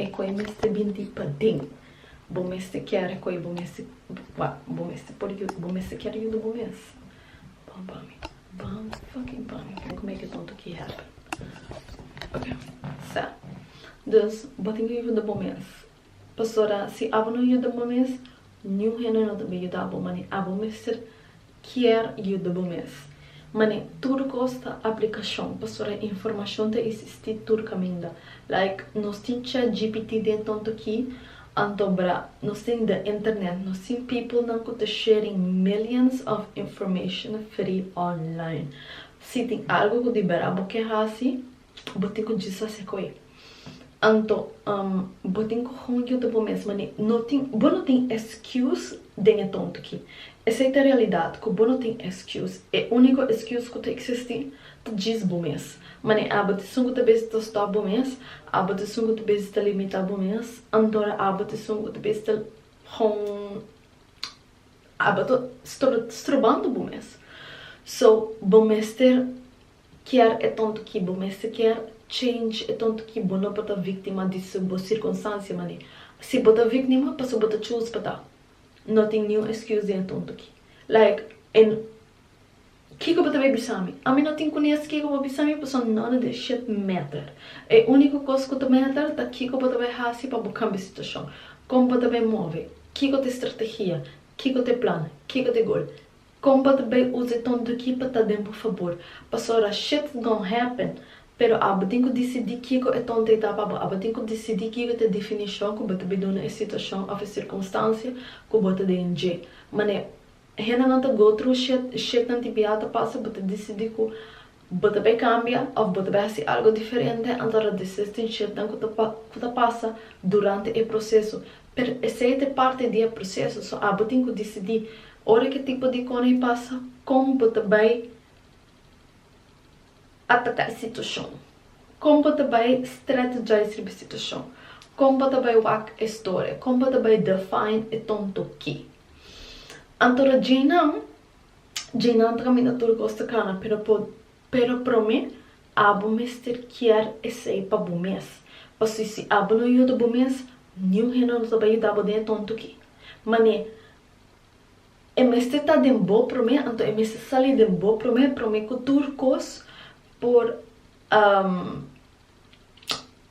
E koe mester bin di paden. Bo mester kier e koe bo mester pa bo mester por yuda bo mester kier yuda bo mes. Ban pa mi. Ban fucking pa mi. Bo ke make e tonto ki happen. Ok sa dus bo tin ki yuda bo mes pasobra si abo no yuda bo mes niun hende no ta bin yuda bo mane abo mester kier yuda bo mes. Man'e tur kos ta aplikashon, pasobra informashon ta isistí tur kaminda. Like, nos tin chatgpt den Tontoquí, anto bra, nos tin the internet, nos tin peoplenan ku ta sharing millions of information free online. Si tin algu ku di bera bo ke hasi, Bo tin cu Jesus sa cu e. Anto, bo tin cu honger junto bo mes mané. No tin, bo no tin excuse den e tonto ki. Esey ta realidad cu bo no tin excuse. E unico excuse cu ta existi ta djis bo mes. Mané abo t-esun cu ta bezi ta stop bo mes, abo t-esun cu ta bezi ta limita bo mes, antora abo t-esun cu ta bezi ta hon abo ta stroba, strobando bo mes. So, bo mester. Kier e tonto ki bo mester kier, change e tonto ki bo no pa ta victima di su bo circunstancia mane. Si bo ta vicnima paso bo ta choose pa ta, no tin niun excuse den e tonto ki. Like e no Kiko bo ta bay bisa mi? Ami no tin kunes kiko bo bisa mi paso none of that shit matter. E unico cos cu ta matter ta kiko bo ta bay haci pa bo cambia situacion, con bo ta bay move, kiko ta estrategia, kiko ta e plan, kiko ta e goal. Kon pa ta bai usa e tontuki pa ta den por fabor pasobra shit don happen pero abo tin ku disidi kiko e tontai ta pa bo abo tin ku disidi kiko ta e definishon ku bo ta bai duna e situashon of e sirkunstansia ku bo ta den dje manera hendenan ta go thru shit shitnan ti biaha ta pasa bo ta disidi ku Bo ta bay cambia of bo ta bay haci algo diferente anto ta deses tin shetnan cu ta cu ta pasa durante e proceso pero esey ta parti di e proceso so abo tin cu dicidi ora ki tipo di coney pasa con bo ta bay ataca e situacion con bo ta bay strategize riba e situacion con bo ta bay wak e storia con bo ta bay define e tonto ki anto ta djey nan dje nan ta kaminda tur kos ta kana pero po pero prome abo mester kier esei pa bo mes pasobra si abo no yuda bo mes niun hende no ta bai yuda bo den e tonto ki mane e mester ta den bo prome anto e mester sali den bo prome prome ku tur kos por.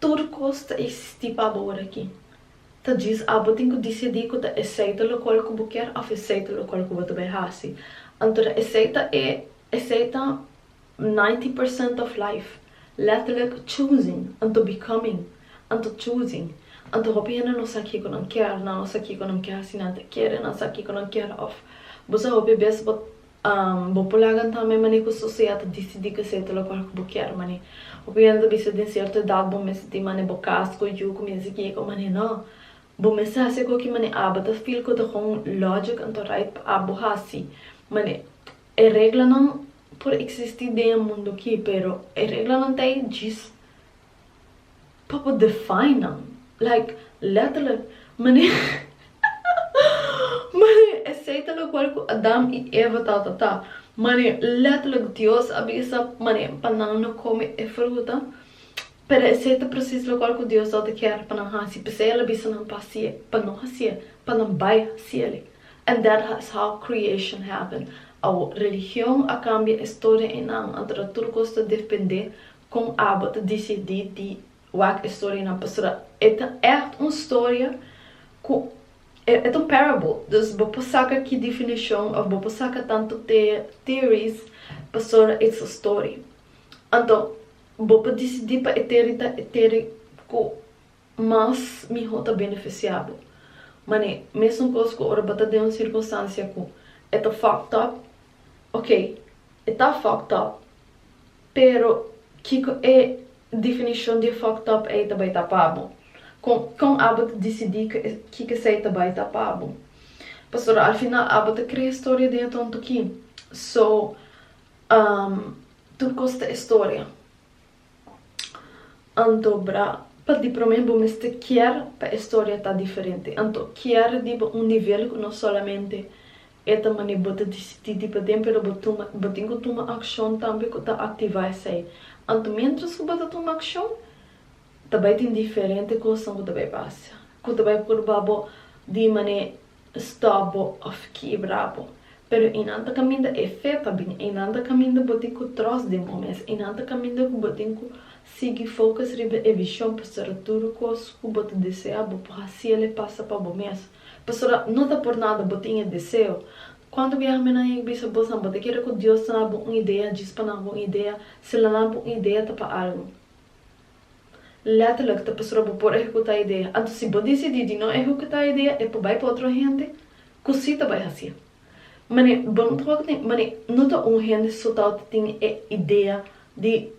Tur kos ta existí pa bo ora aki. Ta djis abo tin ku disidí ku ta esei ta lokual ku bo kier òf esei ta lokual ku bo ta bai hasi. Anto ta esei ta e, esei ta ninety percent òf life. Letterlik choosing, anto becoming, anto choosing. Anto hopi hende no sa kiko nan kier, nan no sa kiko nan ke hasi, nan ta kere, nan sa kiko nan kier òf bo sa hopi bes bo Bo por laga tambe manera cu sociedad ta dicidí cu esey ta locual cu bo kier. Mane, bo por yanda ta bisa den cierto edad bo mester tin mane bo cas, coyu, cuminsa a guia cu mane. No. Bo mester haci algo cu mane aba ta feel cu ta con logic anto right pa abo haci. Mane, e reglanan por existi den e mundo aki, pero e reglanan ta ey djis. pa por define nan like letterlijk maneer maneer esey ta locual cu Adam y Eva ta ta ta maneer letterlijk Dios a bisa maneer pa nan no come e fruta pero esey ta precies locual cu Dios ta ta kier pa nan haci pesey el a bisa nan pa hacie pa no hacie pa nan bay haciele and that is how creation happen awo religion a cambia e storia y nan anto ta tur cos ta defende Kon abo ta disidí di wak e storianan? Pasobra e ta ègt un storia ku e ta un parable. Dus bo por saka ki definishon òf bo por saka tantu theories pasobra it's a story. Anto bo por disidí pa e theory ta e theory ku mas miho ta beneficia bo. Man'e mesun cos cu ora bo ta den un circunstancia cu e ta fucked up, ok, e ta fucked up, pero kico e definicion di e fucked up ey ta bay ta pa bo? Con con abo ta dicidi cu e kico esey ta bay ta pa bo? Pasobra al final abo ta crea historia den e tonto ki, so, um, tur cos ta historia. Anto bra, pa di promé bo mester kier pa e storia ta diferente. Anto kier riba un nivel ku no solamente e ta manera bo ta disití di paden, pero bo tuma, bo tin ku tuma akshon tambe ku ta aktivá esei. Anto miéntras ku bo ta tuma akshon, ta bai tin diferente kosnan ku ta bai pasa, ku ta bai purba bo di manera stòp bo òf kiebra bo. Pero einan ta kaminda e fe pa bini. Einan ta kaminda bo tin ku tròst den bo mes. Einan ta kaminda ku bo tin ku sigui fokus riba e vishon pasobra tur kos ku bo ta desea bo por hasiel e pasa pa bo mes. Pasobra no ta por nada bo tin e deseo. Kuantu biaha mi nan yeg bisa bosan bo ta kere ku Dios ta na bo un idea djis pa nan bo un idea? Si lo na bo un idea ta pa algu. Letterlijk ta pasobra bo por ehecuta e idea. Anto si bo dicidi di no ehecuta e idea e por bay pa otro hende cu si ta bay hacié. Mane, bo no ta wak tin, mane, no ta un hende so tao ta tin e idea di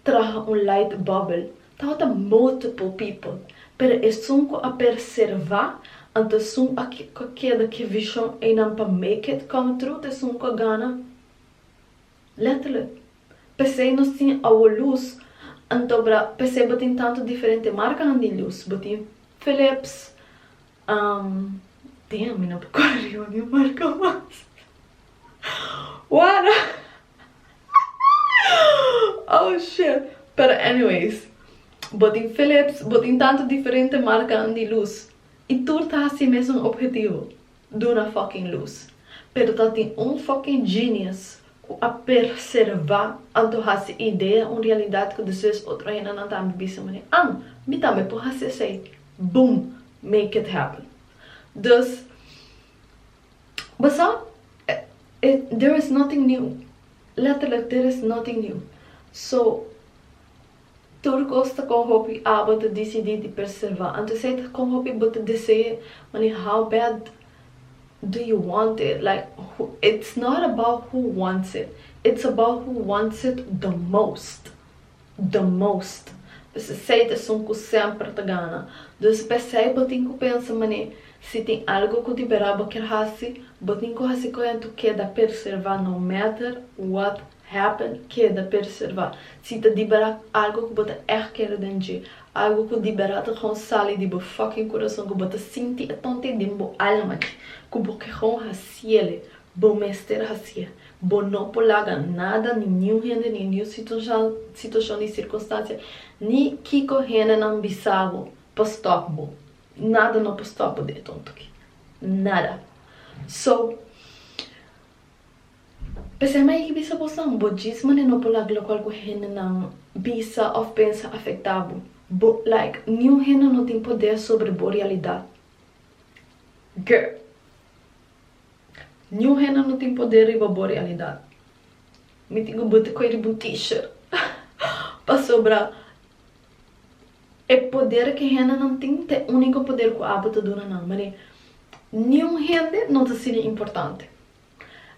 traha un light bubble. Tao ta multiple people. Pero esun cu a perserva, anto esun a cu a keda cu e vision eynan pa make it come true ta esun cu a gana. Letterlijk. P'esei nos tin awo lus, anto bra p'esei bo tin tantu diferente markanan di lus. Bo tin Philips, ehm, damn, mi no por kore riba niun marka mas. Wara, oh shit! Pero anyways, bo tin Philips, bo tin tantu diferente markanan di lus, i tur ta hasi e mesun ophetivo. Duna fucking luz. Pero ta tin un fucking genius cu a perserva anto haci idea un realidad cu despues otro hendenan tambe bisa mane, An! Mi tambe por haci esey! Boom! Make it happen! Dus, bo sa, e, there is nothing new. Letterlijk, there is nothing new. So. Tur cos ta con hopi abo ta dicidi di perserva. Anto esey ta con hopi bo ta desee mani how bad do you want it like who it's not about who wants it it's about who wants it the most the most pues esey ta esun cu semper ta gana dus pesey bo tin cu pensa mani si tin algo cu di bera bo kier haci bo tin cu haci coyento keda perserva no matter what Happen, keda perservá. Si ta di bera algo ku bo ta ègt kere den dje, algo ku di bera ta kon sali di bo fucking kurason, ku bo ta sinti e tonte den bo alma dje, ku bo ke kon hasiele, bo mester hasié. Bo no por laga nada, ni niun hende, ni niun situashon ni sirkunstansia, ni kiko hendenan bisa bo, pa stòp bo. Nada no por stòp bo den e tonto akí. Nada. So. P'esei mi a yegi bisa bosan, bo djis mane no por laga lokual ku hendenan bisa òf pensa afektá bo. Bo, like, niun hende no tin podé sobre bo realidat. Girl. Niun hende no tin podé riba bo realidat. Mi tin ku bo ta kore riba un teacher. Pasobra e poder ku e hendenan tin ta e úniko poder ku abo ta duna nan. Mane, niun hende no ta asina importante.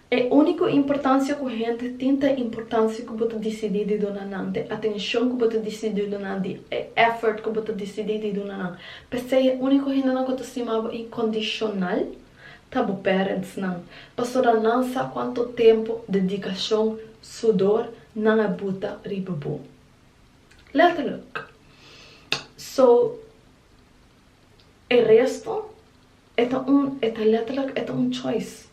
E úniko importansia ku hende tin ta e importansia ku bo ta disidí di duna nan, di atenshon ku bo ta disidí di duna nan, di e effort ku bo ta disidí di duna nan. P'esei e úniko hendenan ku ta stima bo inkondishonal ta bo parentsnan, pasobra nan sa kuantu tempu, dedikashon, sudor nan a buta riba bo. Letterlijk. So, e resto. E ta un, e ta letterlijk, e ta un choice.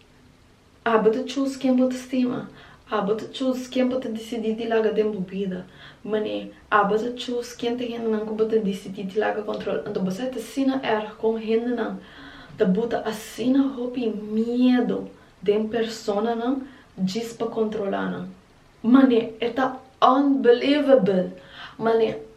Abo ta choose ken bo ta stima. Abo ta choose ken bo ta disidi di laga den bo bida. Man'e, abo ta choose ken ta hendenan ku bo ta disidi di laga control. Anto bo sa e ta asina erg kon hendenan ta buta asina hopi miedu den personanan djis pa controla nan. Man'e, e ta unbelievable! Man'e,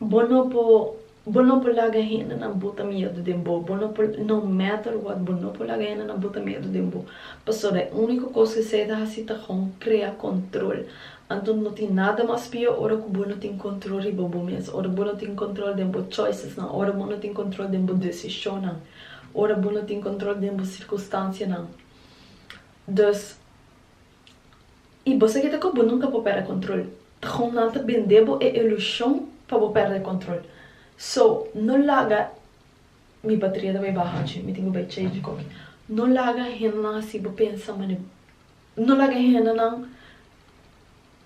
Bo no por bo no por laga hendenan bota miedu den bo, bo no por no matter what bo no por laga hendenan bota miedu den bo, pasobra e úniko kos ku Esai ta hasi ta kon krea kòntròl. Anto no tin nada mas pió ora ku bo no tin kòntròl riba bo mes, ora bo no tin kòntròl den bo choicesnan, ora bo no tin kòntròl den bo desishonnan, ora bo no tin kòntròl den bo sirkunstansianan. Dus. I bo sa kita ku bo nunka por pèrdè kontrol. Takom nan ta bendé bo e ilushon pa bo pèrdè kontrol. So, no laga, Mi bateria ta bai baha achi, mi tin ku bai chèj di koki. No laga hendenan hasi bo pensa manera, no laga hendenan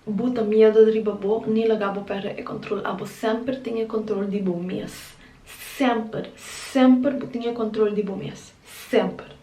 buta miedu riba bo ni laga bo pèrdè e kontrol. Abo semper tin e kontrol di bo mes. Semper, semper bo tin e kontrol di bo mes. Semper.